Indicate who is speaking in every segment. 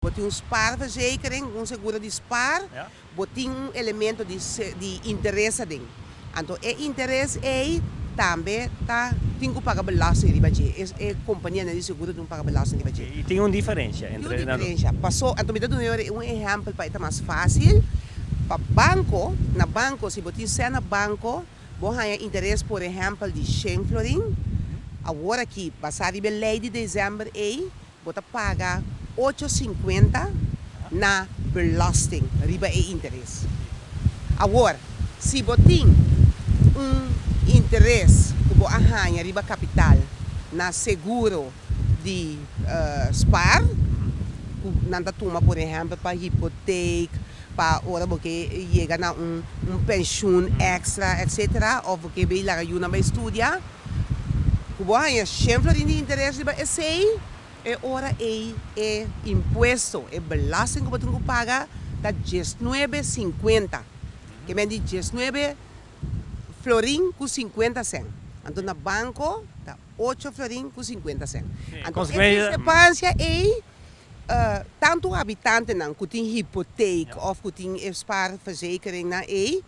Speaker 1: Bo tin un spaarverzekering, un seguro di spaar, bo tin
Speaker 2: un elemento
Speaker 1: di di interes aden. Anto e interes ei tambe ta tin ku paga belasting riba dje. E e kompanianan di seguro tin ku paga belasting riba dje. I tin un diferensha
Speaker 2: entre nan dos? Tin un diferensha. Paso,
Speaker 1: anto mi ta duna yor un ehèmpel pa e ta mas fásil. Pa banko, na banko si bo tin sèn na banko. Bo haña interes por ehèmpel di shen florin? Awor aki, basá riba e lei di desèmber ei, bo ta paga ocho sinkuenta na belòsting riba e interes. Awor, si bo tin un interes ku bo a haña riba kapital na seguro, di spaar cu nan ta tuma por ehempel pa hypotheek pa ora bo ke yega na un pensioen extra etcetera of bo ke bay laga yu nan bay studia cu bo haya shen florin di interes riba esey e ora ey e impuesto e belasting cu bo tin cu paga ta diesnuebe cincuenta ke men di diesnuebe florin ku sinkuenta sèn. Anto na banko ta ocho florin ku sinkuenta sèn. Anto e disrepansha ei tantu habitantenan ku tin hipotek òf ku tin e spaarverzekeringnan ei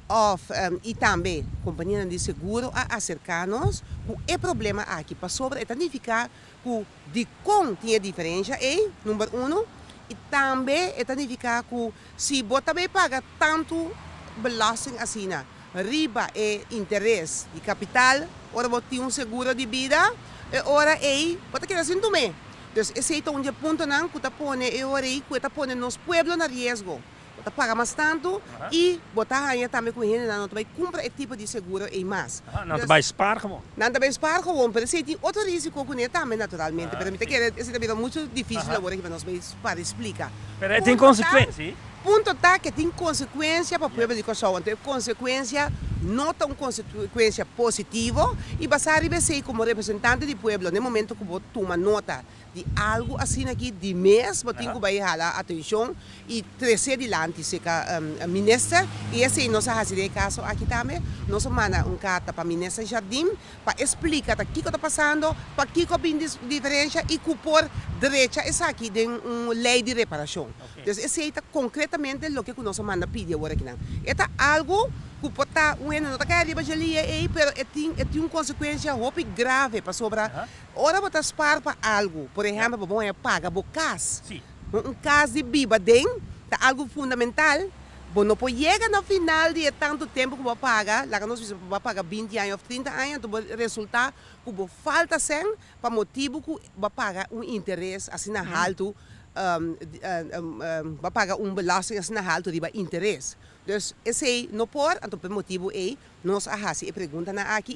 Speaker 1: òf i tambe kompanianan di seguro a aserká nos ku e problema aki pasobra e ta nifiká ku. Dikon tin e diferensha ei? Number uno, i tambe e ta nifiká ku si bo ta bai paga tantu belòsting asina riba e interes di kapital ora bo tin un seguro di bida, e ora ei bo ta keda sin tum'é. Dus esei ta un di e puntonan ku ta pone e ora ei ku e ta pone nos pueblo na riesgo. Bo ta paga mas tantu i bo ta haña tambe ku hendenan no ta bai kumpra e tipo di seguro ei mas. Nan ta bai spaar
Speaker 2: gewoon. Nan ta bai spaar gewoon,
Speaker 1: pero esei tin otro risiko ku ne tambe naturalmente, pero mi ta kere esei ta bira muchu difisil awor aki pa nos bai spaar i splika. Pero e tin konsekuensi.
Speaker 2: Punto ta ke
Speaker 1: tin konsekuensia pa pueblo di Kòrsou, anto e konsekuensia no ta un konsekuensia positivo i basá riba esei komo representante di pueblo na e momento ku bo tuma nota, Di algu asina aki di mes bo tin ku bai hala atenshon i tres'é dilanti serka minister i esei nos a hasi den e kaso aki tambe. Nos a manda un karta pa minister Jardim pa e splika ta kiko ta pasando, pakiko a bin di diferensha i ku por drecha esaki den un lei di reparashon. Entonces esei ta konkretamente loke ku nos a manda pidi awor akinan. E ta algu ku por ta, weno no ta kai riba dje lia ei pero e tin e tin un konsekuensia hopi grave pasobra Ora bo ta spaar pa algu, por ehempel bo wou paga bo kas, un kas di biba den ta algu fundamental, bo no por yega na final di e tantu tempu ku bo a paga, laga nos bisa bo a paga binti aña of trinta aña, enton bo a resulta ku bo falta sen pa motibu ku bo a paga un interes asina haltu, bo a paga un belasting asina haltu riba interes. Dus esei no por, anto pa e motibu ei nos a hasi e preguntanan aki.